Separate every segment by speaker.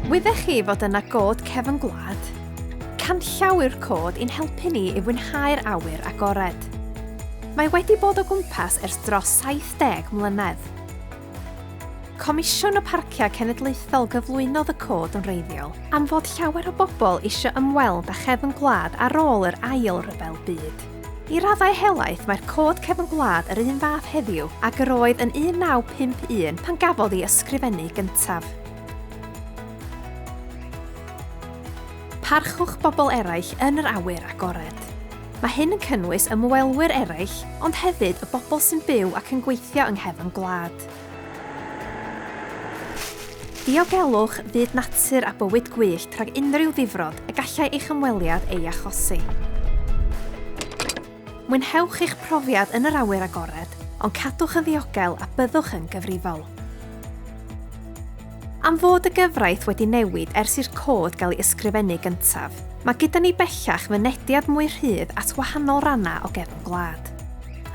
Speaker 1: Wyddech chi fod yna god cefn gwlad? Canllawi'r cod i'n helpu ni i fwynhau'r awyr agored. Mae wedi bod o gwmpas ers dros 70 mlynedd. Comisiwn y Parciau Cenedlaethol gyflwynodd y cod yn reiddiol am fod llawer o bobl eisiau ymweld â chefn gwlad ar ôl yr Ail Ryfel Byd. I raddau helaeth mae'r Cod Cefn Gwlad yr un fath heddiw ag yr oedd yn 1951 pan gafodd ei ysgrifennu gyntaf. Parchwch bobl eraill yn yr awyr agored. Mae hyn yn cynnwys ymwelwyr eraill, ond hefyd y bobl sy'n byw ac yn gweithio yng nghefn gwlad. Diogelwch fyd natur a bywyd gwyllt rhag unrhyw ddifrod y gallai eich ymweliad ei achosi. Mwynhewch eich profiad yn yr awyr agored, ond cadwch yn ddiogel a byddwch yn gyfrifol. Am fod y gyfraith wedi newid ers i'r Cod gael ei ysgrifennu gyntaf, mae gyda ni bellach fynediad mwy rhydd at wahanol rannau o gefn gwlad.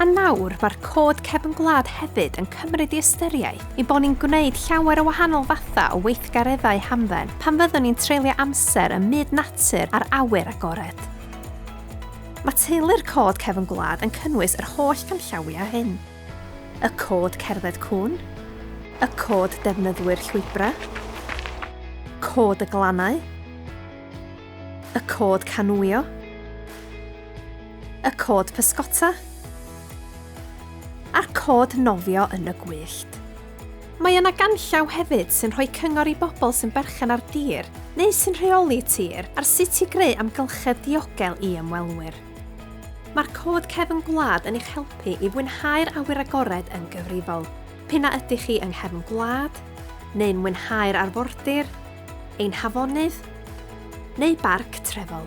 Speaker 1: A nawr, mae'r Cod Cefn Gwlad hefyd yn cymryd i ystyriaeth ein bod ni'n gwneud llawer o wahanol fathau o weithgareddau hamdden pan fyddwn ni'n treulio amser ym myd natur a'r awyr agored. Mae teulu'r Cod Cefn Gwlad yn cynnwys yr holl ganllawiau hyn. y cod cerdded cŵn, y cod defnyddwyr llwybrau, cod y glannau, y cod canŵio, y cod pysgota, a'r cod nofio yn y gwyllt. Mae yna ganllaw hefyd sy'n rhoi cyngor i bobl sy'n berchen ar dir neu sy'n rheoli tir ar sut i greu amgylchedd diogel i ymwelwyr. Mae'r Cod Cefn Gwlad yn eich helpu i fwynhau'r awyr agored yn gyfrifol, p'un a ydych chi yng nghefn gwlad, neu'n mwynhau'r arfordir, ein hafonydd, neu barc trefol.